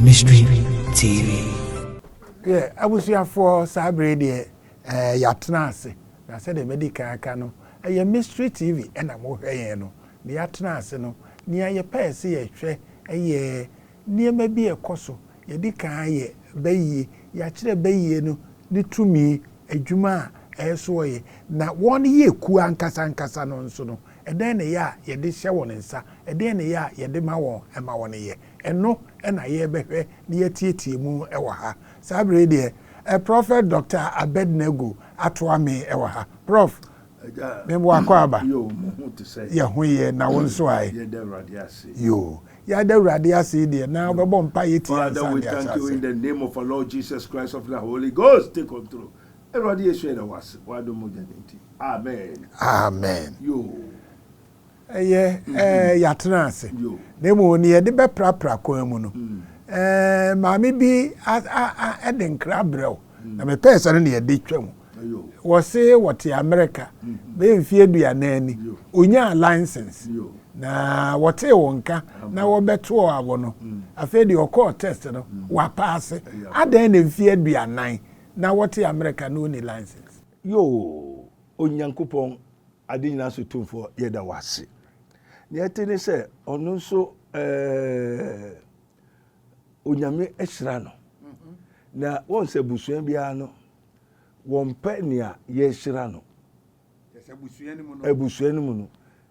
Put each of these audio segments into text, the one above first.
Mystery TV. Yeah, abusuafoɔ saa bere deɛ ɛɛ eh, yɛatena ase na sɛdeɛ mɛdi kan aka no ɛyɛ eh, mystery tv ɛna mohwɛ yɛn no na yɛatena ase no nea yɛpɛɛ sɛ yɛhwɛ ɛyɛ eh, Nneɛma bi a ɛkɔ so, Yɛadi kan ayɛ bayie, yɛakyerɛ bayie no ne tumi, adwuma a ɛso ɔyɛ, na wɔyɛ kuo ankasa ankasa no nso no, ɛdɛn na ɛyɛ a yɛde hyɛ wɔn nsa, ɛdeɛn na ɛyɛ a yɛde ma wɔn ma wɔyɛ? Ɛno na yɛrebɛhwɛ na yɛatietie mu wɔ ha. Saa berɛ yi deɛ, Prɔfɛt Dɔkta Abednego atoa me wɔ ha. Prɔf. Me bo akɔ aba. Yɛ ho yɛ na wo nso ae. Yoo. Yɛada Awurade ase yi deɛ na wobɛbɔ mpaeɛ tie ansa ne asase. Father we thank you in the name of our Lord Jesus Christ of the Holy Ghost take control. Awurade Yesu yɛda wo ase w'adom mogya no nti. Amen. Amen. Yoo. Ɛyɛ ɛɛ yɛatena ase. Na mmom nea yɛde bɛprapra kwan mu no, ɛɛ maame bi a a a ɛde nkra brɛ wo. Na mepɛɛ sɛ no na yɛde twa mu. Wɔse wɔte Amerika bɛyɛ mfeɛ aduanan ni. Ɔnyaa license. Na wɔtee wo nka na wɔbɛtoɔ awo no. Afei deɛ ɔkɔɔ test no, wapaase. Adɛn na mfeɛ aduanan na wɔte Amerika na ɔnni license? Yoo! Onyankopɔn, Ade Nyinaa so Tumfoɔ, yɛda wo ase. Nea ɛte ne sɛ, ɔno nso ɛɛ, Onyame ahyira no. Mm-hmm. Na wɔn sɛ abusua biara no, wɔmpɛ nea yɛahyira no. Abusua no mu no,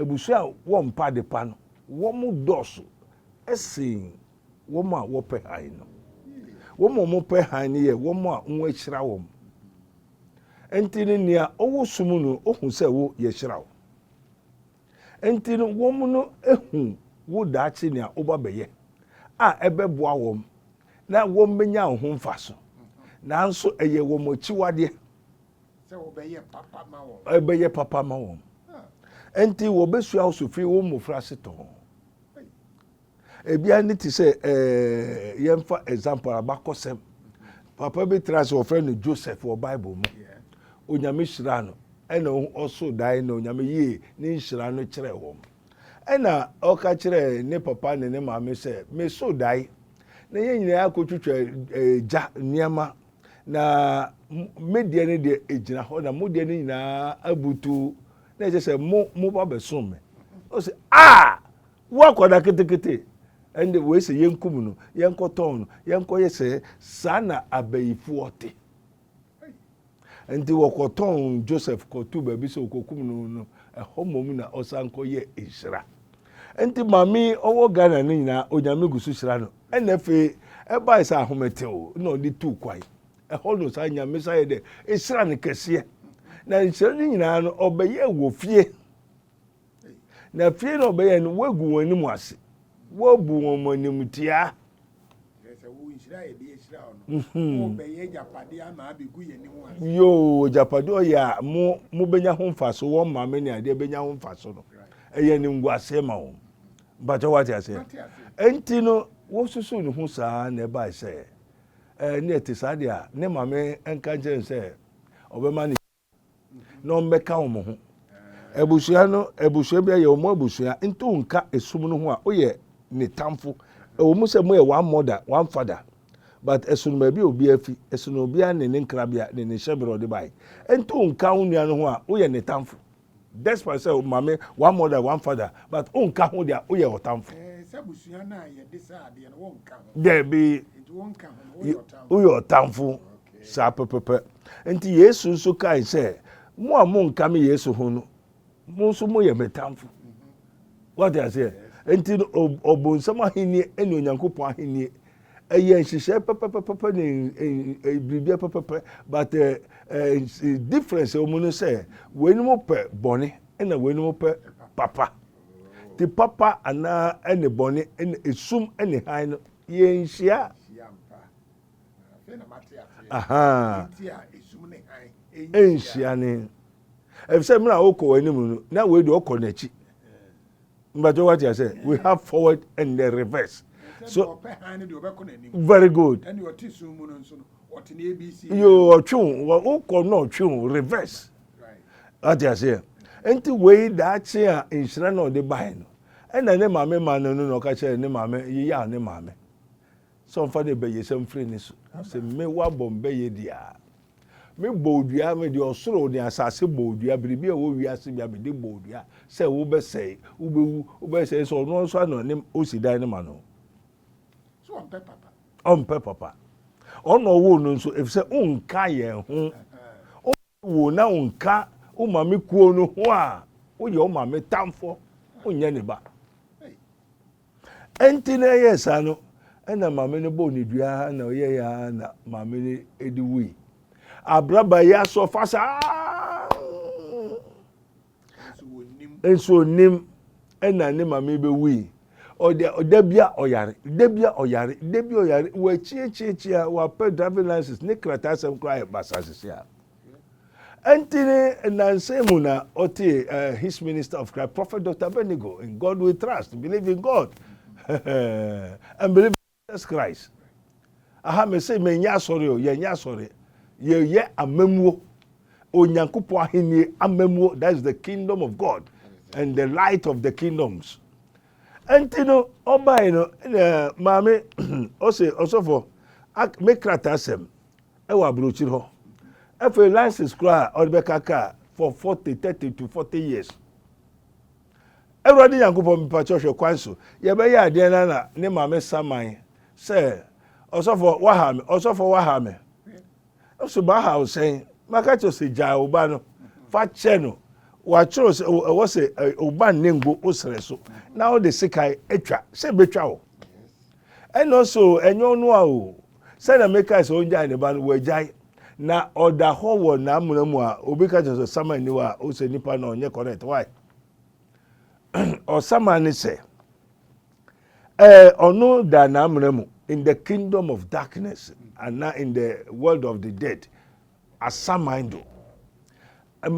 Abusua a wɔmpa adepa no, wɔdɔɔso sen wɔn a wɔpɛ hann no. Wɔn a wɔpɛ hann no yɛ wɔn a wɔahyira wɔn. Enti no, nea ɔwɔ sum no, ohu sɛ wo, yɛahyira wo. Enti no, wɔn no hu wo daakye nea woba bɛyɛ a ɛbɛboa wɔn na wɔbɛnya wo ho mfaso. Nanso ɛyɛ wɔn akyiwadeɛ sɛ wɔbɛyɛ papa ma wɔn. Ɛbɛyɛ papa ma wɔn. Nti wɔbɛsua wo so firi wo mmɔfra ase tɔn. Ebia ne te sɛ ɛɛ yɛmfa example abakɔsɛm. Papa bi tra sɛ wɔfrɛ no Joseph wɔ Bible mu. Onyame hyira no. Ɛna ɔso dae na onyame yie ne nhyira no kyerɛ wɔn. Ɛna ɔka kyerɛ ne papa ne ne maame sɛ meso dae na yɛn nyinaa akɔtwitwa eh, gya nneɛma Na me deɛ no deɛ ɛgyina hɔ na mo deɛ no nyinaa abutu na ɛkyɛ sɛ mo mo ba bɛsom me ɔsɛ a wo akɔda ketekete ɛnde wei sɛ yɛnkum no yɛnkɔtɔn no yɛnkɔyɛ sɛ saa na abayifoɔ te nti wɔkɔtɔn joseph kɔto baabi sɛ wɔkɔkum no no ɛhɔ mmom na ɔsan kɔyɛ nhyira nti maame ɔwɔ ghana no nyinaa onyame gu so hyira no Ɛna afei ɛbae sɛ ahometew na ɔde tuu kwan. Ɛhɔ no saa nyamehyɛ ayɛ dɛ nhyiran kɛseɛ. Na nhyira no nyinaa no ɔbɛyɛɛ wɔ fie. Na fie no ɔbɛyɛɛ no woagu wɔn anim ase, woabu wɔn animtiaa. Yoo, agyapadeɛ ɔyɛ a mo mobɛnya ho mfaso, wɔn maame ne adeɛ bɛnya ho mfaso no, ɛyɛ animguaseɛ ma wɔn. Mpakyɛw wate aseɛ? Ɛnti no wosusu ne ho saa na ɛbae sɛ ɛɛ ne ɛte saa deɛ a ne maame nka nkyerɛ no sɛ ɔbɛma ne na ɔmbɛka wɔn ho abusua no abusua bi ayɛ wɔn abusua nti wonka esum no ho a woyɛ ne tamfo ɛwɔ mu sɛ moyɛ one mother one father but ɛsono baabi a obi afi ɛsono obi a ne ne nkrabea ne ne hyɛberɛ ɔde bae ɛnti wonka wo nua no ho a woyɛ ne tamfo Despite sɛ o maame one mother one father but o nka ho deɛ o yɛ ɔtamfo. Sɛ abusua no a yɛde sɛ adeɛ no wɔn nka ho. Dɛbi. Nti wɔn nka ho no o yɛ ɔtamfo. Saa pɛpɛpɛ. Nti Yesu nso kae sɛ mo a mo nka me Yesu ho no mo nso mo yɛ me tamfo. Woate aseɛ? Enti no, ɔbonsam ahennie ne Onyankopɔn ahennie ɛyɛ nhyehyɛɛ pɛpɛpɛpɛ ne biribiara pɛpɛpɛ but uh, uh, difference wɔn no sɛ wɔnom pɛ bɔne na wɔnom pɛ papa ti papa anaa ɛne bɔne ɛne esum ɛne han no yɛnhyia ɛnhyia ne ɛfiri sɛ mmerɛ a wokɔ w'anim no na wei deɛ ɔkɔ n'akyi mbatɛ wate asɛ we have forward and the reverse so very good yo ɔtwe wo wokɔ na ɔtwe wo reverse wate aseɛ nti wei daakye a nhyira na ɔde bae no ɛna ne maame ma no no na ɔka kyerɛ ne maame yeyɛ a ne maame Sɛ ɔmfa ne bayɛsɛm mfiri ne so. Ɔse, Me wabɔ me bɛyɛ dua. Me bɔɔ dua, me de ɔsoro ne asase bɔɔ dua, biribi a ɛwɔ wiase bia me de bɔɔ dua sɛ wo bɛ sɛe, wo bɛ wu, wo bɛ sɛe, sɛ ɔno nso ano ne osi dan no ma no. So ɔmpɛ papa? Ɔmpɛ papa. Ɔno ɔwoo no nso, efisɛ onka yɛn ho. Wo na wonka wo maame kuo no ho a woyɛ wo maame tamfoɔ wonyɛ ne ba ɛnti na ɛyɛ saa no ɛna maame no bɔɔ ne dua na ɔyɛ ya na maame no ɛdi wui abraba yi asɔ fa saa nso ɔnim ɛna ne maame bɛwui ɔde ɔda bi a ɔyare da bi a ɔyare da bi a ɔyare wɔakyiakyia a wɔapɛ driving license ne krataa asɛm koraa yɛ basasese a ɛnti ne nansa mu na ɔte uh, eh, his minister of Christ prophet Dr. Benigo in God we trust believe in God and believe Jesus Christ aha mese menyɛ asɔre o yɛnyɛ asɔre yɛyɛ amamuo Onyankopɔn ahennie amamuo that is the kingdom of God and the light of the kingdoms ɛnti no ɔbae no maame ɔse ɔsɔfo me krataa sɛm ɛwɔ aburokyiri hɔ afei license koraa ɔde bɛka kaa for 40 30 to 40 years Awurade Nyankopɔn, mepakyɛw hwɛ kwan so yɛbɛyɛ adeɛn na na ne maame saman sɛ, Ɔsɔfoɔ, woaha me, ɔsɔfoɔ, woaha me. Nso maha wo sɛn? Maka kyerɛ sɛ gyae wo ba no, fa kyɛ no. Wɔatwerɛ sɛ ɛwɔ sɛ wo ba nnengo wo serɛ so na wode sekan atwa sɛ bɛtwa wo. Ɛno nso o, ɛnyɛ ɔnoa o, sɛnea mekae sɛ ɔngyae ne ba no, wagyae, na ɔda hɔ wɔ n'amena mu a, obi ka kyerɛ sɛ ɔsaman nni hɔ a, wosɛ nnipa no a ɔnyɛ correct, why? Ɔsaman ne sɛ, eh, ɔno da n'amena mu, in the kingdom of darkness, anaa in the world of the dead, asaman do.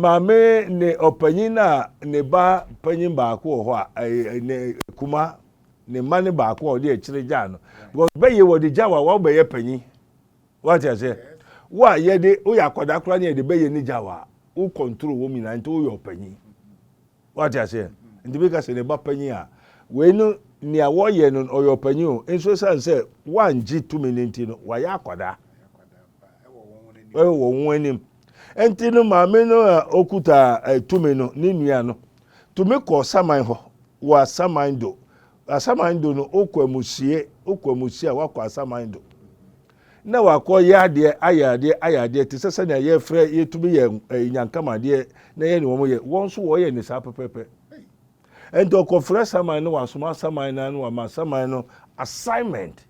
Maame ne ɔpanyin a ne ba panyin baako wɔ hɔ a ne kuma ne mma ne baako a ɔde akyire gyaa no because bɛyɛ wɔde gya wa wɔn bɛyɛ panyin wate ase wo a yɛde woyɛ akwadaa koraa ne yɛde bɛyɛ ne gya wa wo control wɔn nyinaa nti woyɛ ɔpanyin Wate aseɛ? Nti meka sɛ ne ba panyin a, wei no nea wɔyɛ no no, ɔyɛ ɔpanyin o, nso ɛsiane sɛ wangye tumi no nti no, wayɛ akwadaa. Ɛwɔ wɔn anim. Nti no maame no a ɔkuta eh, tumi no, ne nua no, tumi kɔɔ saman hɔ, wɔ asaman do, Asaman do no, wokɔ amusiei, wokɔ amusiei a woakɔ asaman do na wakɔ yɛ adeɛ, ayɛ adeɛ, ayɛ adeɛ te sɛ sɛnea yɛfrɛ, yɛtumi yɛ ɛyi nyankama adeɛ na yɛ ne wɔn yɛ, wɔn nso wɔyɛ ne saa pɛpɛpɛ. Nti ɔkɔfrɛ asaman no, wasoma asaman no ano, wama asaman no assignment.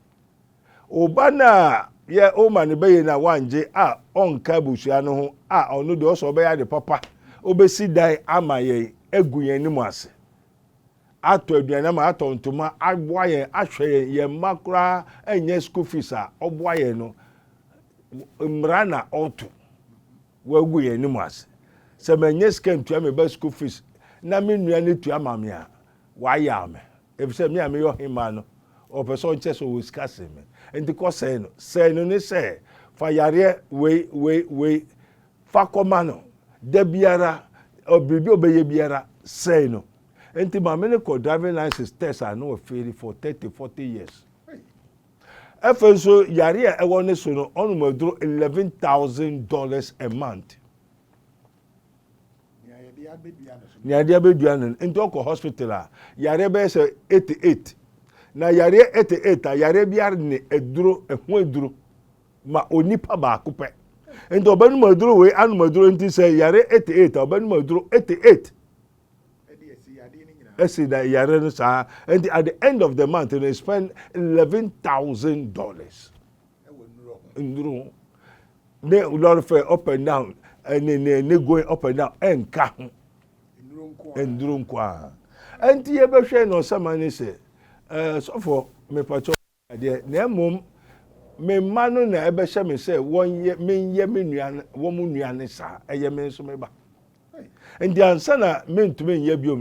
Oba no a yɛ ɔma no bɛyɛ no a wangye a ɔnka abusua no ho a ɔno deɛ ɔsɛ ɔbɛyɛ ade papa, ɔbɛsi dan ama yɛn agu yɛn anim ase. atɔ aduanam a atɔ ntoma aboa yɛn ahwɛ yɛn yɛn mma koraa ɛnyɛ school fees a ɔboa yɛn no mmara na ɔto wagu yɛn anim ase sɛ manyɛ sika ntua me ba school fees na me nua no tua ma me a wayaw me efisɛ me a meyɛ ɔhemmaa no ɔpɛ sɛ ɔnkyɛ sɛ ɔwɔ sika sen me nti kɔ sɛe no sɛe no ne sɛ fa yareɛ wei wei wei fa kɔma no da biara biribi ɔbɛyɛ biara sɛe no Enti maame no kɔɔ driving license test a na ɔfeeli for thirty, forty years. Afei nso yareɛ a ɛwɔ ne so no, ɔnom aduro eleven thousand dollars a month. Nea yɛde abɛdua no no, nti ɔkɔ hospital a, yareɛ bɛyɛ sɛ eighty eight. Na yareɛ eighty eight a, yareɛ biara ne aduro, ɛho aduro ma onipa baako pɛ. Nti ɔbɛnom aduro wei, anom aduro nti sɛ yareɛ eighty eight a, ɔbɛnom aduro eighty eight. ɛsi da yare no saa ɛnti at the end of the month no spend eleven thousand dollars nnuro ho ne lɔre fɛ up and down ɛne ne ne going up and down ɛnka ho nnuro nko a ɛnti yɛbɛhwɛ na ɔsɛma ne sɛ ɛɛ sɔfo mepatɔ deɛ, na mmom me mma no na ɛbɛhyɛ me sɛ wɔnyɛ, menyɛ me nua, wɔn nua ne saa, ɛyɛ me nso me ba. Nti ansa na mentumi nyɛ biom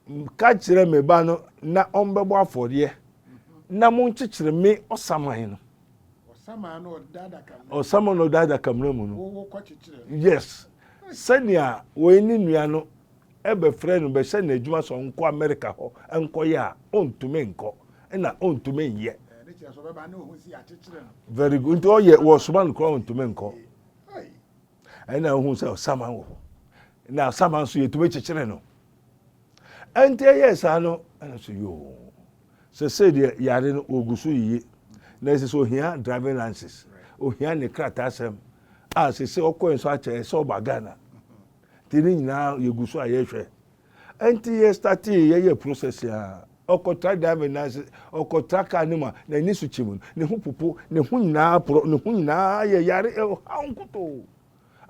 no, ka kyerɛ me ba no na ɔmbɛbɔ afɔdeɛ na monkyekyere me ɔsaman no. Ɔsaman no ɔda adakamena. Ɔsaman no ɔda adakamena mu no. Wowɔ kɔkyekyere. Yes. Sɛnea wɔn ne nua no bɛfrɛ no bɛhyɛ no adwuma sɛ ɔnkɔ Amerika hɔ nkɔyɛ a, ɔntumi nkɔ, ɛna ɔntumi nyɛ. Very good. Nti ɔyɛ wɔsoma no koraa ɔntumi nkɔ. Ɛna ohun sɛ ɔsaman wɔ hɔ. Na ɔsaman nso yɛtumi kyekyere no. Ɛnti ɛyɛ saa no ɛna so yoo. Sɛsɛ deɛ yare no wɔgu so yiye. Na ɛsɛ sɛ ohia driving license. Ohia ne krataa sɛm. A sɛsɛ ɔkɔɛ nso akyɛ ɛsɛ ɔba Ghana. Nti ne nyinaa yɛgu so a yɛhwɛ. Nti yɛ startee yɛyɛ process a, ɔkɔtra driver nan ase, ɔkɔtra car no mu a, n'ani so kyim no, ne ho popo, ne ho nyinaa porɔ, ne ho nyinaa yɛ yare, ɔhaw nkutoo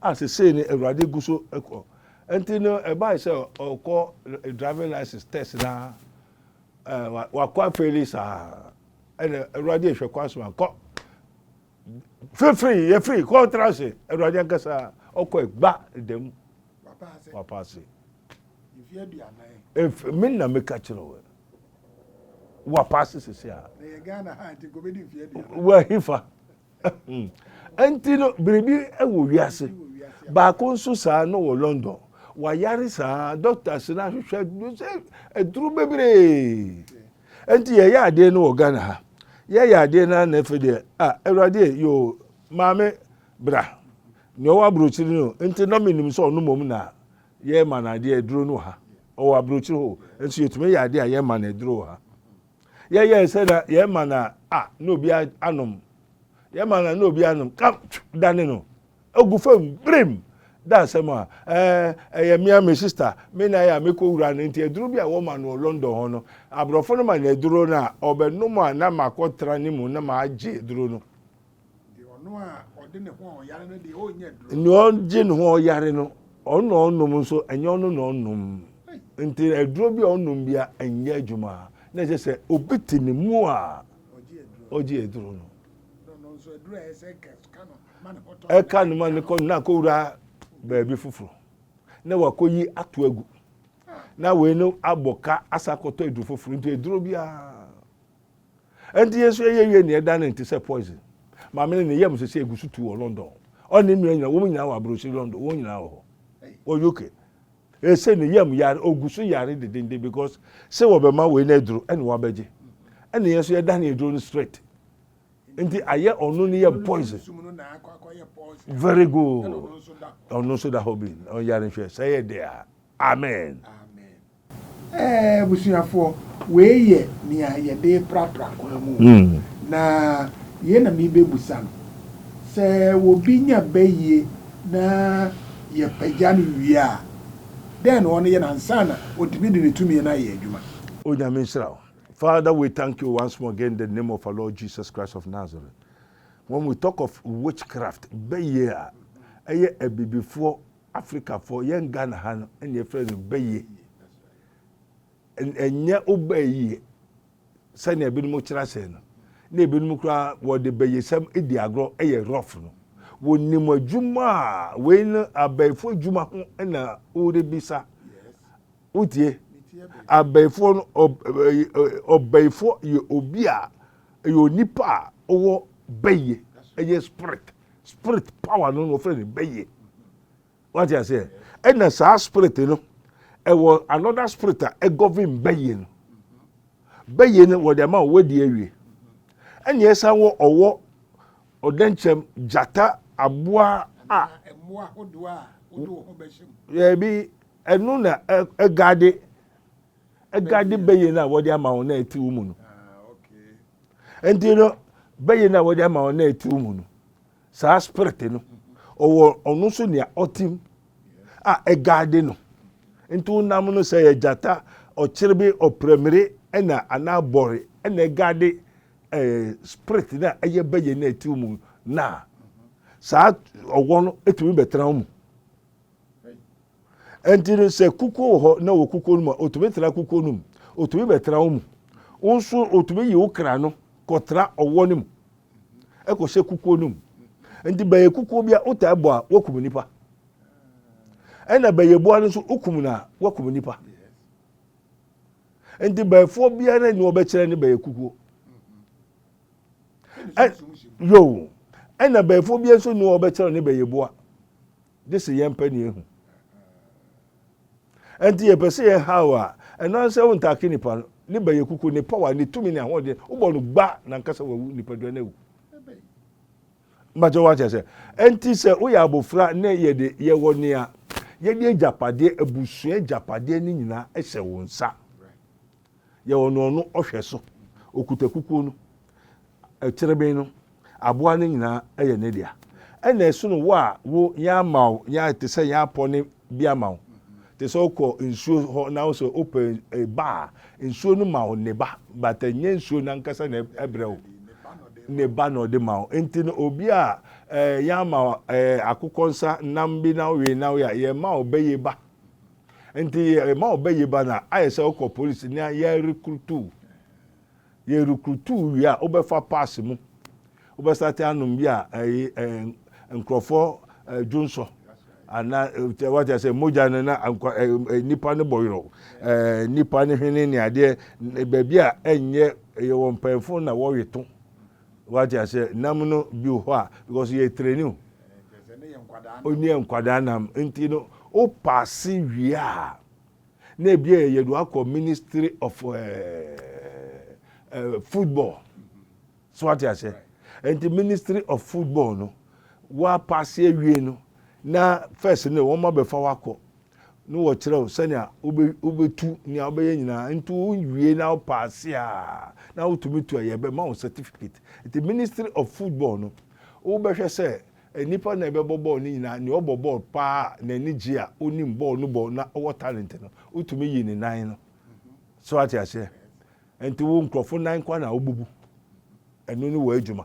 a sesei no Awurade gu so kɔ. Nti no ɛbae sɛ ɔkɔ driving license test na wakɔ afeeli saa, ɛna Awurade ehwɛ kwan so ankɔ. fifiri yɛfiri kɔntra ase awurade ankasa ɔkɔ gba dɛm wapa ase me na meka kyerɛ wɔ wapa ase sese a wahifa nti no biribi wɔ wiase baako nso saa no wɔ london wayare saa dɔkta sena hwehwɛ aduro bebree Ɛnti yɛyɛ adeɛ no wɔ Ghana ha yɛyɛ adeɛ no ana ɛfɛ deɛ ah awurade e yoo maame bra nea ɔwɔ aburokyiri no nti na menim sɛ ɔno mmom na yɛma no adeɛ aduro no wɔ ha ɔwɔ aburokyiri hɔ nso yɛtumi yɛ adeɛ a yɛma no aduro wɔ ha yɛyɛ sɛ na yɛma no a na obi anom yɛma no a na obi anom dane no agu fam birim da asɛm a ɛɛ ɛyɛ mmea me sista me na yɛ a mekɔ wura no nti aduro bi a wɔma no wɔ london hɔ no aborɔfo no ma no aduro no a ɔbɛnom a na makɔtra ne mu na magye aduro no ɔno a ɔde ne ho a ɔyare no deɛ ɔnyɛ aduro nea ɔgye ne ho ɔyare no ɔno na ɔnom nso ɛnyɛ ɔno na ɔnom nti aduro bi a ɔnom bia ɛnyɛ adwuma na ɛsɛ sɛ obi te ne mu a ɔgye aduro no ɛka ne ma ne kɔ na akɔwura baabi foforɔ na wakɔyi ato agu na wei no abɔ ka asa akɔtɔ aduro foforɔ nti aduro biara ɛnti yɛ nso ɛyɛ wie neɛ ɛda ne nte sɛ poison maame no ne yam sɛ sɛ ɛgu so tu wɔ london ɔne mmea nyina wɔn nyinaa wɔ aburokyiri london wɔn nyinaa wɔ hɔ wɔ uk ɛsɛ ne yam yare ɔgu so yare dedenden because sɛ wɔbɛma wei no aduro ɛne wabɛgye ɛne yɛ nso yɛda ne aduro no straight nti ayɛ ɔno no yɛ poison very good ɔno nso da hɔ bi ɔyare nhwɛ sɛ yɛ de a amen. Ɛɛ abusuafoɔ wei yɛ nea yɛde prapra kwan mu o na yei na merebɛbusa no sɛ obi nya bayie na yɛpagya no wie a dɛn na ɔno yɛ no ansa na ɔtumi de ne tumi no ayɛ adwuma. Onyame nhyira wo. Father we thank you once more again in the name of our Lord Jesus Christ of Nazareth. When we talk of witchcraft, bɛyɛ a ɛyɛ abibifoɔ Afrikafoɔ yɛn Ghana ha no ɛna yɛfrɛ no bɛyɛ. Ɛnyɛ wobɛyɛ yie sɛnea ebinom kyerɛ asɛn no na ebinom koraa wɔde bɛyɛsɛm di agorɔ ɛyɛ rough no. Wɔnim adwuma a wei no abɛɛfo adwuma ho na wɔrebisa. Wotie? Abayifoɔ no, ɔbayifoɔ yɛ obi a, ɛyɛ onipa a ɔwɔ bayie, ɛyɛ spirit, spirit power no na wɔfrɛ no bayie. Wate aseɛ? Ɛna saa spirit no, ɛwɔ another spirit a ɛgɔvin bayie no. Bayie no wɔde ama wɔn adi awie. Ɛna ɛsan wɔ ɔwɔ, ɔdɛnkyɛm, gyata, aboa a. Ɛna ɛmoa hodoɔ a wode wo ho bɛhyɛ mu. Yɛbi. Ɛno na ɛgade ɛgade bɛyɛ no a wɔde ama wɔn na ɛte wo mu no ah, nti no bɛyɛ no a wɔde ama wɔn na ɛte wo mu no saa spirit no ɔwɔ ɔno nso nea ɔtim a ɛgade no nti wonam no sɛ yɛ gyata ɔkyerebe ɔprɛmire ɛna anaa bɔre ɛna ɛgade ɛɛ eh, spirit no a ɛyɛ bɛyɛ no ɛte wo mu na saa ɔwɔ no ɛtumi bɛtena wo mu Ɛnti no sɛ kukuo wɔ hɔ na wɔ kukuo no mu a, ɔtumi tena kukuo no mu. Ɔtumi bɛtena wo mu. Wo nso ɔtumi yi wo kra no kɔtena ɔwɔ no mu. Ɛkɔhyɛ kukuo no mu. Ɛnti bɛyɛ kukuo bi a wotaa bɔ a woakum nipa. Ɛna bɛyɛ boa no nso wokum no a woakum nipa. Ɛnti bɛyɛfoɔ biara na ɛni ɔbɛkyerɛ ne bɛyɛ kukuo. Yoo. Ɛna bɛyɛfoɔ biara nso ni ɔbɛkyerɛ ne bɛyɛ boa. Gye sɛ yɛmpɛ nea ehu. Ɛnti yɛpɛ sɛ yɛn haw a, ɛno ara sɛ wo ntaake nipa no, ne bɛyɛ kuku, ne power, ne tumi, ne ahoɔden, wo bɔ no gba na nka sɛ wawu, nipadua no awu. Mbakyɛ wate ase? Ɛnti sɛ woyɛ abofra ne yɛde yɛwɔ nea, yɛde agyapadeɛ, abusua agyapadeɛ no nyinaa hyɛ wo nsa. Yɛ ɔno ɔno ɔhwɛ so. Ɔkuta kukuo no, kyereben no, aboa no nyinaa yɛ ne dea. Ɛna ɛsono wo a wo yɛn ama wo, yɛn te sɛ yɛn apɔ ne bi ama wo. Te sɛ wokɔ nsuo hɔ na wo sɛ wopɛ ba a, nsuo no ma wo ne ba, but ɛnyɛ nsuo no ankasa na ɛbrɛ wo. Ne ba na ɔde ma wo. Nti no obi a yɛn ama akokɔ nsa nam bi na wowe na woyɛ a, yɛn ma wo bɛyɛ ba. Nti yɛma ɔbɛ yi ba no a, ayɛ sɛ wokɔ polisi na yɛrekrutu wo. Yɛrekrutu wo wie a, wobɛfa paase mu. Wobɛsate anom bi a ɛyi nkurɔfoɔ dwonsɔ anaa wate asɛ mogya no na nnipa no bɔ yorɔ nnipa no hwene ne adeɛ baabi a ɛnyɛ yɛwɔ mpanyinfoɔ na wɔwe to Wate aseɛ, nam no bi wɔ hɔ a, because yɛ treni o. O ne yɛ nkwadaa nam, nti no, o paase wie a, na ebi a yɛ de wakɔ ministry of ɛɛ eh, ɛɛ eh, football. So wate aseɛ, nti ministry of football no, wa paase awie no, na first no wɔn abɛfa wakɔ. na wɔkyerɛ wo sɛnea wobɛtu nea wobɛyɛ nyinaa nti wowie na wopaase a na wotumi tu a yɛbɛma wo certificate nti ministry of football no wobɛhwɛ sɛ nnipa na ɛbɛbɔ bɔɔl no nyinaa nea ɔbɔ bɔɔl paa a n'ani gye a onim bɔɔl no bɔ na ɔwɔ talent no wotumi yi ne nan no so ate aseɛ nti wo nkurɔfo nan kwa na wobɛbu ɛno ne wɔ adwuma.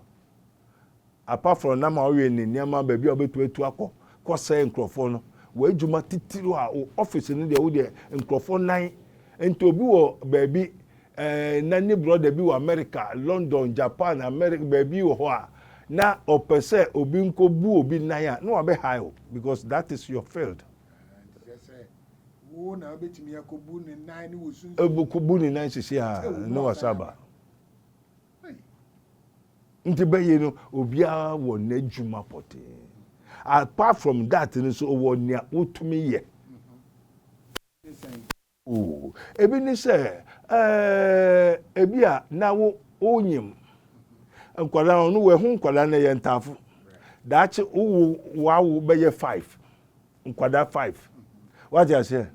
Apart from nam a ɔyɛ ne nneɛma baabi a ɔbɛtumi atu akɔ kɔ sɛe nkurɔfoɔ no, w'adwuma titiriw a wo office no deɛ wo deɛ nkurɔfoɔ nan nti obi wɔ baabi eh, na ne brɔda bi wɔ America, London, Japan, America baabi wɔ hɔ a na ɔpɛ sɛ obi nkɔ bu obi nan a na wabɛ hae wo because that is your field. wo na wobɛtumi akɔbu ne nan ne wɔ sunsun bu ne nan sisi a ne wɔ saba. Nti bɛyɛ no obiara wɔ n'adwuma pɔtee apart from that no so wɔ nea wotumi yɛ. Ebi ne sɛ ebi a na wo wonyim nkwadaa no, ɔno wɔ ɛho nkwadaa no yɛ ntaafo. Daakye wo wo w'awo bɛyɛ five. nkwadaa five wate aseɛ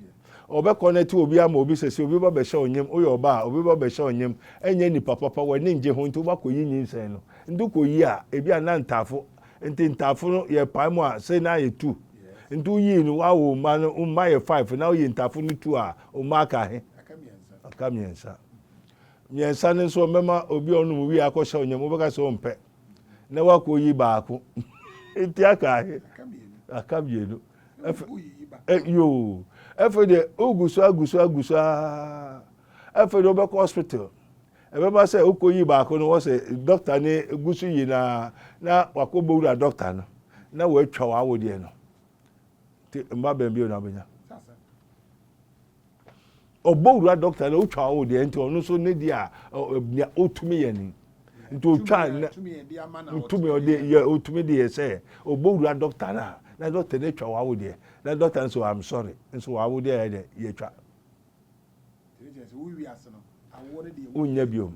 ɔbɛ connect obi ama obi sɛ sɛ obi ba bɛhyɛ onyem woyɛ ɔba a obi ba bɛhyɛ onyem ɛnyɛ nipa papa w'ani ngye ho nti wobakɔ yi nyinsɛn no nti kɔ yi a ebi a na ntaafo nti ntaafo no yɛ pae mu a sɛ na yɛ two nti woyii no wawo mma no mma yɛ five na woyi ntaafo no two a mma aka he aka mmiɛnsa mmiɛnsa no nso ɔmɛma obi a ɔnom wie akɔhyɛ onyem wobɛka sɛ ɔmpɛ na woakɔyi baako nti aka ahe aka mmienu yoo ɛfɛ deɛ wogu so agu so agu so aa ɛfɛ deɛ wobɛkɔ hospital ɛbɛma sɛ wokɔyi baako no wɔ sɛ dɔkta ne gu so yi na na wakɔ bɛwura dɔkta no na wɔatwa w'awodeɛ no nti mma bɛn bio na wobɛnya ɔbɔ wura dɔkta na otwa o deɛ nti ɔno nso ne deɛ a nea otumi yɛ ni nti otwa na otumi ɔde yɛ otumi de yɛ sɛ ɔbɔ wura dɔkta na na dɔkta na atwa wawo deɛ na dɔkta nso i'm sorry nso wawo deɛ yɛ deɛ yɛtwa wonya biom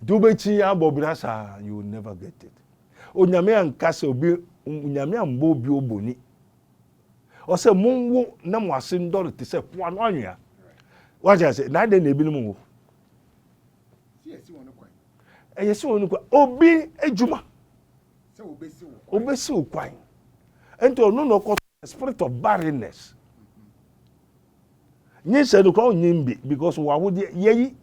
nti wobɛkyi abɔ bra saa you never get it onyame anka sɛ obi onyame ambɔ obi oboni ɔsɛ monwo na mo ase ndɔre te sɛ po ano anwea wagye ase na adɛn na ebinom wo ɛyɛ sɛ wɔn kwan obi adwuma obesi wo kwan nti ɔno na ɔkɔ spirit of barrenness nyinsɛn no kora onyim bi because wɔ ahodeɛ yɛyi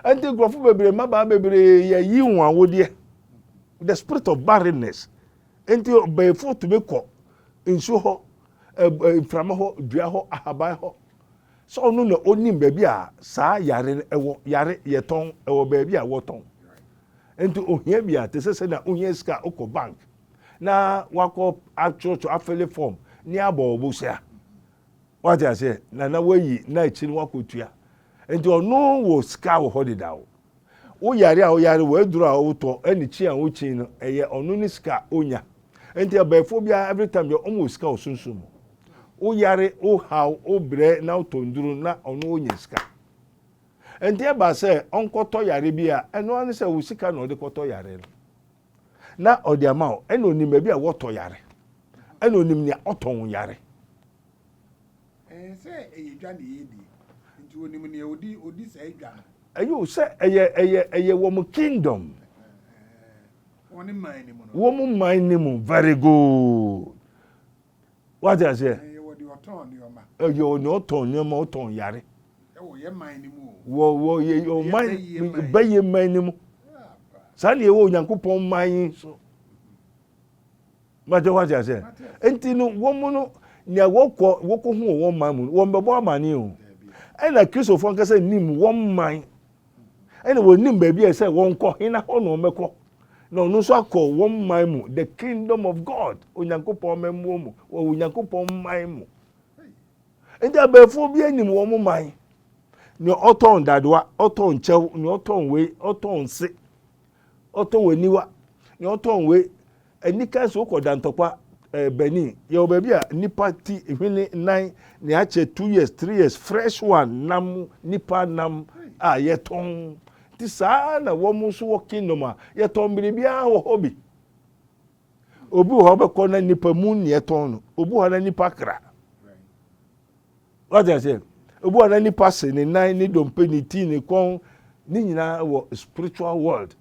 ɛnti nkurɔfo bebree mmabaa bebree yɛyi wɔn ahodeɛ the spirit of barrenness ɛnti ɔbɛɛfo tumi kɔ nsuo hɔ ɛɛ mframa hɔ dua hɔ ahaban hɔ sɛ ɔno na onim baabi a saa yare no ɛwɔ yare yɛtɔn ɛwɔ baabi a wɔtɔn ɛnti ohia bi a te sɛ sɛ na ohia sika okɔ bank. na wakɔ akyerɛkyerɛ afele fɔm ne abɔ ɔbo hyɛ a wate aseɛ na na wayi na akyi no wakɔtua nti ɔno wɔ sika wɔ hɔ deda o woyare a woyare wɔaduru a wotɔ ɛne kyi a wokyi no ɛyɛ ɔno ne sika a onya nti abɛɛfoɔ biara every time deɛ ɔmo wɔ sika wɔ sunsun mu woyare wohaw wobrɛ na wotɔ nduru na ɔno wonya sika nti ɛba sɛ ɔnkɔtɔ yare bi a ɛno ano sɛ wo sika na ɔde kɔtɔ yare no Na ɔde ama wo. Ɛna onim baabi a wɔtɔ yare. Ɛna onim nea ɔtɔn wo yare. Ɛyɛ sɛ ɛyɛ dwa na yɛredi, nti onim nea odi odi saa dwa no. Ɛyɛ o, sɛ ɛyɛ ɛyɛ ɛyɛ wɔn kingdom. Wɔn man no mu no. Wɔn man no mu, very good. Wate aseɛ? Ɛyɛ wɔ deɛ ɔtɔn nneɛma. Ɛyɛ wɔ deɛ ɔtɔn nneɛma, ɔtɔn yare. Ɛwɔ yɛ man no mu o. Wɔ wɔ yɛ yɛ ɔman bɛyɛ man no mu. Saa na ɛwɔ Onyankopɔn man yi so. Mate wate aseɛ? Nti no wɔn mu no nea wɔkɔ wɔkɔ ho wɔ wɔn man mu no wɔn bɛbɔ amane o. Ɛna Kristofoɔ ankasa nim wɔn man Ɛna wɔnim baabi a ɛsɛ wɔnkɔ, hena hɔ na wɔbɛkɔ. Na ɔno nso akɔ wɔn man mu, the kingdom of God, Onyankopɔn mmamuo mu, wɔ Onyankopɔn man mu. Nti abɛɛfoɔ bi anim wɔn man. Nea ɔtɔn dadewa, ɔtɔn kyɛw, nea ɔtɔn wei, ɔtɔn nse, ɔtɔn aniwa, nea ɔtɔn wei, Anika nso wokɔ Dantɔkwa, eh, Benin. Yɛwɔ baabi a nnipa ti, hwene, nan, nea akyɛ two years, three years, fresh one, nam, nnipa nam a yɛtɔn. Nti saa ara na wɔn nso wɔ Kingdom a yɛtɔn biribiara wɔ hɔ bi. Obi wɔ hɔ bɛkɔ na nnipa mu nea ɛtɔn no, obi wɔ hɔ na nnipa kra. Wate aseɛ? Obi wɔ hɔ na nnipa se, ne nan, ne dompe, ne ti, ne kɔn, ne nyinaa wɔ spiritual world.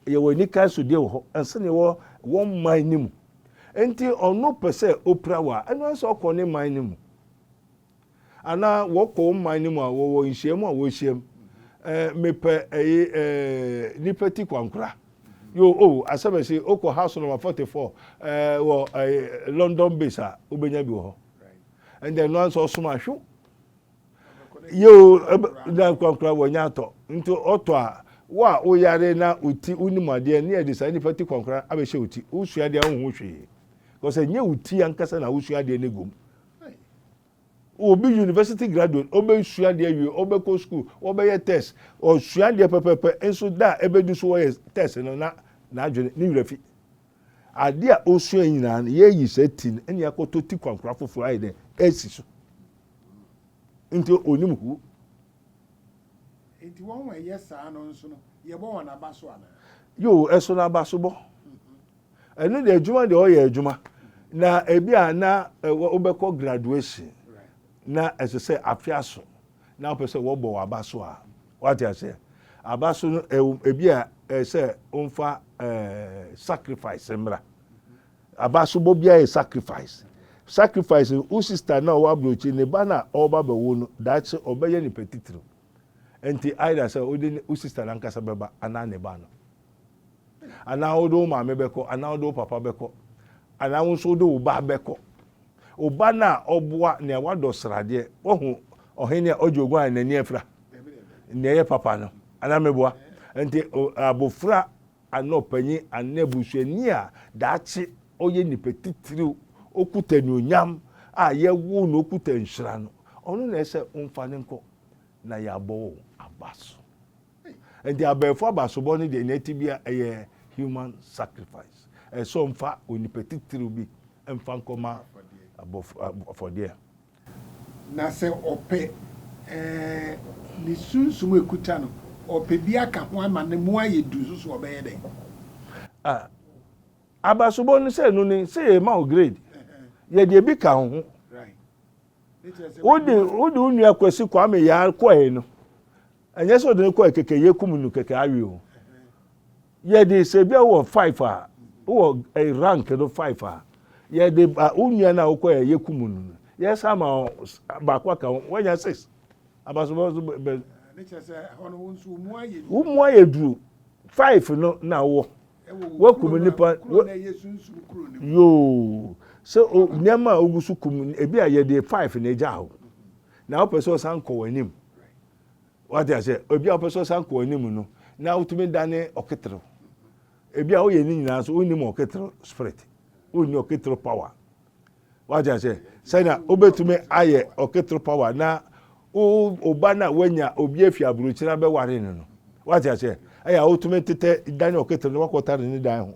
yɛwɔ anika so deɛ wɔ hɔ ɛnsɛn yɛwɔ wɔn man no mu nti ɔno pɛ sɛ ɔpira wɔ a ɛno ɛsɛ ɔkɔ ne man no mu anaa wɔkɔ wɔn man no mu a wɔwɔ nhyiam a wɔhyiam ɛɛ eh, mepɛ ɛyi eh, ɛɛ eh, nipa ti kwankora yo o oh, asɛm ɛsi okɔ house number forty four ɛɛ wɔ ɛɛ london base a wobɛnya bi wɔ hɔ ɛnna ɛno anso ɔsom ahwew. Yiw, na ankorankoro wɔ nya atɔ. Nti ɔtɔ a, wo a woyare na wo ti wonim ade a, ne yɛde saa nipa ti korankoro no abɛhyɛ wo ti. Wosua adeɛ a wonhu hwee. Because ɛnyɛ wo ti ankasa na wosua adeɛ no gu mu. Obi university graduate, ɔbɛsua adeɛ awie, ɔbɛkɔ school, ɔbɛyɛ test, ɔsua adeɛ pɛpɛpɛ, nso da a ɛbɛdu so wɔyɛ test no na n'adwene, ne werɛ fi. Ade a osuae nyinaa no, yɛayi saa ti no ne akɔtɔ ti kwankora foforo ayɛ dɛ asi so. Nti onim huo. Nti wɔn a ɛyɛ saa no nso no, yɛbɔ wɔn aba so anaa? Yoo, ɛso no aba so bɔ. Ɛno deɛ adwuma deɛ ɔyɛ adwuma. Na ebi a na wobɛkɔ graduation na ɛsɛ sɛ afe aso Na wopɛ sɛ wɔbɔ wo aba so a, wate aseɛ, aba so no ɛwom ebi a ɛyɛ sɛ womfa ɛɛ sacrifice mmra. Aba so bɔ biara yɛ sacrifice. Sacrifice no wo sister no a ɔwɔ aburokyire ne ba no a ɔreba abɛwo no daakye ɔbɛyɛ nipa titiriw. Nti either sɛ wode ne wo sister no ankasa bɛba anaa ne ba no. Anaa wode wo maame bɛkɔ, anaa wode wo papa bɛkɔ, anaa wo nso wode wo ba bɛkɔ. Wo ba no a ɔboa nea wadɔ sradeɛ, wahu ɔhene a ɔgye oguan a n'ani afira, nea ɛyɛ papa no, anaa meboa. Nti abofra anaa ɔpanyin anaa abusuani a daakye ɔyɛ nipa titiriw, ɔkuta anuonyam a yɛwoo no, ɔkuta nhyira no, ɔno na ɛsɛ womfa no nkɔ na yɛabɔ wo aba so. Enti abɛɛfo abasobɔ no deɛ nea ɛte biara ɛyɛ human sacrifice, ɛyɛ sɛ ɔmfa onipa titiriw bi mfa nkɔma afɔdeɛ. Na sɛ ɔpɛ ɛɛ ne sunsum a ɛkuta no, ɔpɛ bi aka ho ama no mu ayɛ duru nso so a, ɔbɛyɛ dɛn? A, abasobɔ no sɛ ɛno ni, sɛ yɛrema wo grade, yɛde ebi ka wo ho. Wode wo nua Kwasi Kwame Yaar kɔe no, Ɛnyɛ sɛ ɔde no kɔɛ kɛkɛ yɛkum no kɛkɛ awe o. Yɛde sɛ bia wɔ five a wɔ eh, rank no five a yɛde ba wo nua no a wokɔɛ yɛkum no no yɛsa ma baako aka ho wanya six abasobɔ so bɛ wo mu ayɛ duru five no na wɔ wakum nipa yoo sɛ nneɛma a ogu so kum ebi a yɛde five na egya ho na wopɛ sɛ ɔsan kɔ w'anim Wate aseɛ? Obi a wopɛ sɛ ɔsan kɔ anim no, na wotumi dane ɔketerew. Ebi a woyɛ ne nyinaa so, wonnim ɔketerew spirit, wonni ɔketerew power. Wate aseɛ? Sɛnea wobɛtumi ayɛ ɔketerew power na wo ɔba no a woanya obi afi aburokyire abɛware no no. Wate aseɛ? Ɛyɛ a wotumi tetɛ dane ɔketerew na wakɔtare ne dan ho.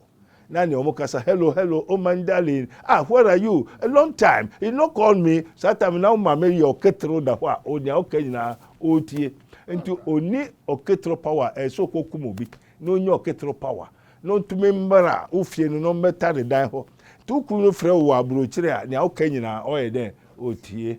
na nea wɔn kasa hello hello oh my darling ah where are you a long time you no call me saa time na wɔn maame yɛ ɔketero da hɔ a onea ɔka nyinaa ɔretie nti oni ɔketero power a ɛsɛ ɔkɔ kum obi na onye ɔketero power na ɔntumi mmara ofie no na ɔmmɛta ne dan hɔ nti okuru no frɛ wɔ aburokyire a nea ɔka nyinaa ɔyɛ dɛ ɔtie.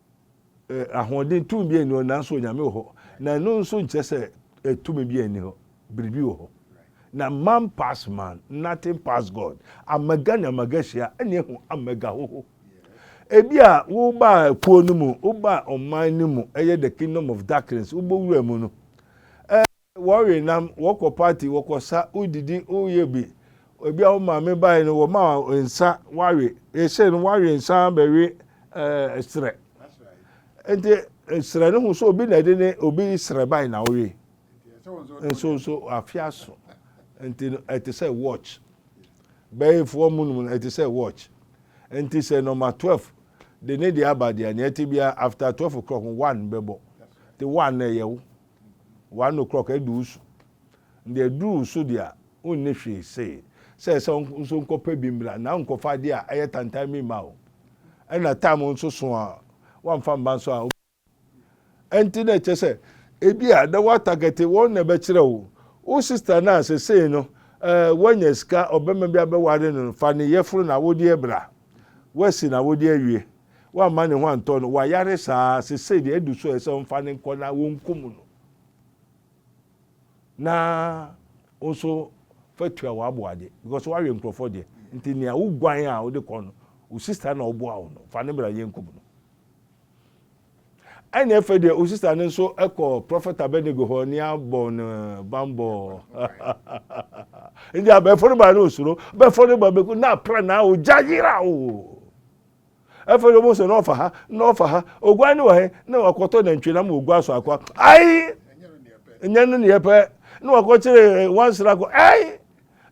Ahoɔden, tumi biara nni hɔ, nanso Onyame wɔ hɔ. Na ɛno nso nkyerɛ sɛ tumi biara nni hɔ, biribi wɔ hɔ. Na man pass man, nothing pass God. Amega ne amega hyia, ɛne ehu amega hoho. Ebi a wobaa kuo no mu, wobaa ɔman no mu, ɛyɛ the kingdom of darkness, wobɔ wura mu no, Wɔwe nam, wɔkɔ party, wɔkɔ sa, wodidi, woyɛ bi. Ebi a wo maame bae no wɔma wo nsa wawe. Yɛhyɛɛ no wawe nsa bɛwe ɛɛ serɛ. Nti serɛ no ho so obi na ɛde ne obi serɛ bae na wowe. Nso nso afe aso. Nti no ɛte sɛ watch. Bɛyefoɔ mu nom no ɛte sɛ watch. Nti sɛ nɔma 12 de ne deɛ aba deɛ nea ɛte biara after 12 o'clock no one bɛbɔ. Nti one no ɛyɛ wo. One o'clock adu wo so. Deɛ aduru wo so deɛ a, wonni hwee se. Sɛ ɛsɛ wo nso nkɔpɛ bi mmra na nkɔfa adeɛ a ɛyɛ tantan bi mma wo. Ɛna time nso so a woamfa mma nso a, ɛnti na ɛkyerɛ sɛ ebi a na woatargɛte wɔn na ɛbɛkyerɛ wo. Wo sister no a sesei no woanya sika, ɔbarima bi abɛware no no, fa ne yɛforo na awodeɛ bra. Woasi n'awodeɛ awie. Wamma ne ho antɔ no. Wayare saa. Seesei deɛ adu so a ɛsɛ wɔmfa no nkɔ na wɔnkum no. Na wo nso fa tua w'aboa de because woawe nkurɔfoɔ deɛ. Nti nea woguan a wode kɔ no, wo sista na ɔboa wo no, fa ne bra yɛnkum no. Ɛne ɛfɛ deɛ wo sista no nso kɔ Prɔfɛt Abednego hɔ ne abɔ no bambɔ. Nti abɛɛfo no ba no osuro. Abɛɛfo no ba bɛku na pra na ogya yera o. Afei ɔbɔ sɛ na ɔfa ha na ɔfa ha oguan ne wɔ he na wakɔtɔ nantwie na ma oguan so akɔ ayi nyɛ no neɛ pɛ na wakɔkyerɛ eh, wansra kɔ ayi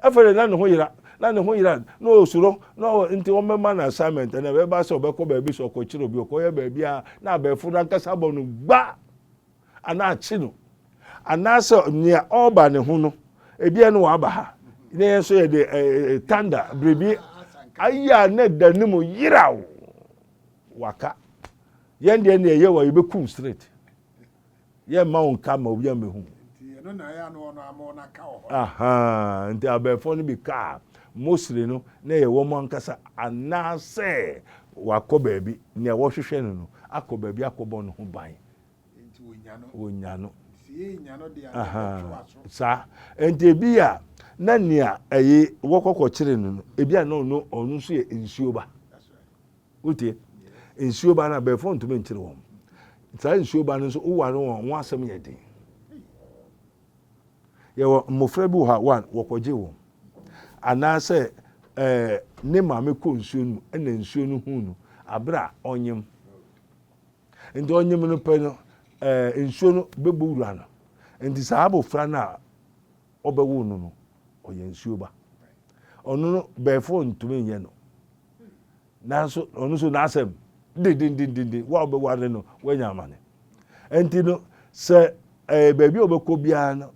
afei de na ne ho yera na ne ho yera na ɔsuro na nti wɔbɛma no assignment na ɛbɛba sɛ ɔbɛkɔ baabi sɛ ɔkɔkyerɛ obi ɔkɔyɛ baabi a na abɛɛfo no ankasa bɔ no gba anaa akyi no, anaasɛ nea ɔreba ne ho no, ebia no waba ha, na yɛn nso yɛde ɛɛ tanda biribi ayɛ a na ɛda ne mu yeraw, waka. Yɛn deɛ nea ɛyɛ wɔ yɛbɛkum straight. Yɛmma wo nka ma obi amɛhu. Aha, nti abɛɛfoɔ no bi kaa mostly no na ɛyɛ wɔn ankasa anaasɛ wakɔ baabi, nea wɔhwehwɛ no no akɔ baabi akɔbɔ ne ho ban. wɔnya no. Saa. Nti ebi a na nea ɛyɛ wɔkɔkɔkyere no no, ebi a na ɔno ɔno nso yɛ nsuo ba. Wotie? Nsuo ba no abɛɛfo ntumi nkyere wɔn. Saa nsuo ba no nso woware wɔn wɔn asɛm yɛ den. Yɛwɔ mmofra bi wɔ ha wɔn wɔkɔgye wɔn. Anaasɛ ɛɛ ne maame kɔ nsuo no mu ɛna nsuo no hu no abere a ɔnyem. Enti ɔnyem no pɛ no, ɛɛ, nsuo no bɛbɔ wura no. Enti saa abɔfra no a wɔbɛwo no no, ɔyɛ nsuo ba. Ɔno no, bɛɛfoɔ ntumi nyɛ no. Nanso ɔno nso n'asɛm de dendendenden, wo a wobɛware no, woanya amane. Enti no, sɛ ɛɛ, baabi a ɔbɛkɔ biara no,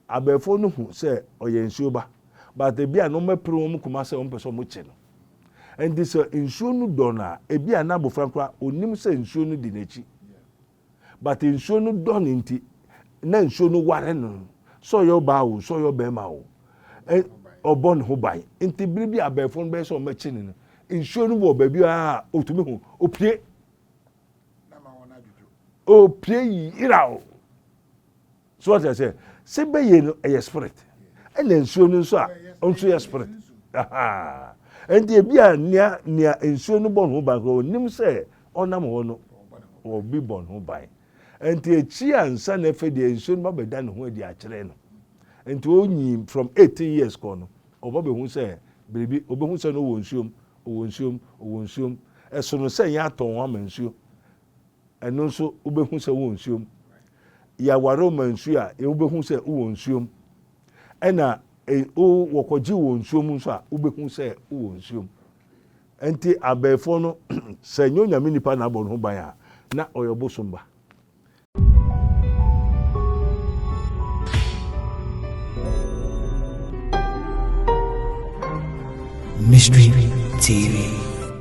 Abɛɛfo no hu sɛ ɔyɛ nsuo ba but ebia no wɔn pere wɔn koma sɛ wɔn pɛ sɛ wɔn kye no nti sɛ nsuo no dɔ no a ebia na abofra no koraa onim sɛ nsuo no di nakyi but nsuo no dɔ no nti na nsuo no ware no sɛ ɔyɛ ɔbaa o sɛ ɔyɛ ɔbɛɛma o ɔbɔ ne ho ban nti bere bi abɛɛfo no bɛyɛ sɛ wɔn bɛkye no no nsuo no wɔ baabi a otumi hu opie opie yira o. So wate aseɛ? Se beye no ɛyɛ spirit ɛna nsuo no nso a ɔnso yɛ spirit ahaa ɛnti ebi a nea nea nsuo no bɔ ne ho ban koraa ɔnim sɛ ɔnam hɔ no ɔbi bɔ ne ho ban ɛnti akyi a nsa na ɛfɛ deɛ nsuo no ba bɛda ne ho adi akyerɛ no ɛnti ɔnyi from 18 years kɔɔ no ɔba bɛhu sɛ biribi ɔbɛhu sɛ no ɔwɔ nsuom ɔwɔ nsuom ɔwɔ nsuom ɛsono sɛ yɛn atɔn ho ama nsuo Ɛno nso wobɛhu sɛ wowɔ nsuom. Yɛaware wo ma nsuo a wobɛhu sɛ wowɔ nsuom. Ɛna wo wɔkɔgye wɔ nsuom nso a wobɛhu sɛ wowɔ nsuom. Nti abɛɛfoɔ no sɛ nyɛ onyame nipa na abɔ ne ho ban a na ɔyɛ ɔbosom ba. Mystery TV.